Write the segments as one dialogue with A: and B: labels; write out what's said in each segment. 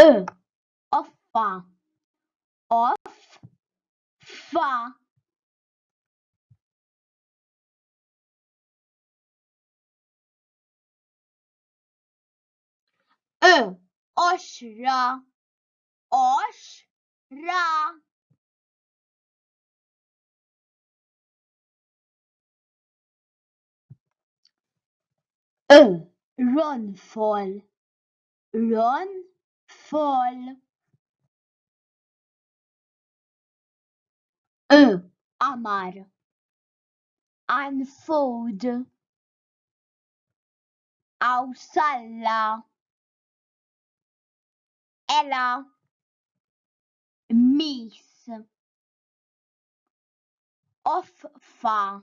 A: Ö, offa, off, fa. Ö, oxra, osh, ra. Ron Fol Ron Fol Qamar Unfold Awsalla Ela Mis Offa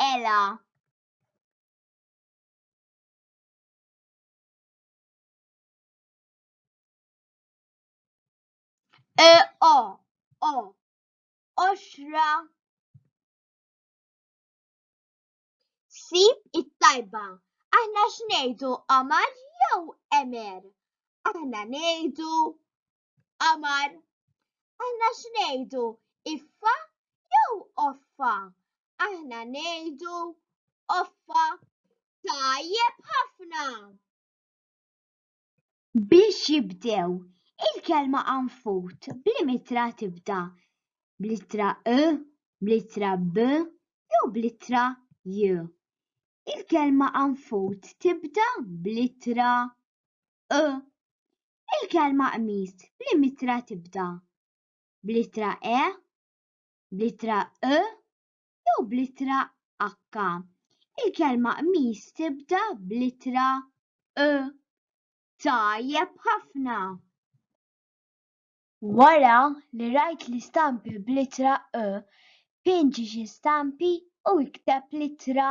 A: Ela. E o o oxra sib it-tajba. Aħna x'ngħidu qamar jew emer? Aħna ngħidu Qamar. Aħna x'ngħidu? Iffa jew offa? Aħna ngħidu offa. Tajjeb ħafna. Biex jibdew, il-kelma anfut bl-imitra tibda bl-ittra e, bl-ittra b jew bl-ittra j. Il-kelma anfut tibda bl-ittra u Il-kelma qmis b'liema ittra tibda? Bl-ittra e? Bl-ittra u? Jew bl-ittra h? Il-kelma qmis tibda bl-ittra u. Tajjeb ħafna! Wara li rajt l-istampi bl-ittra u, pinġi xi stampi u ikteb l-ittra.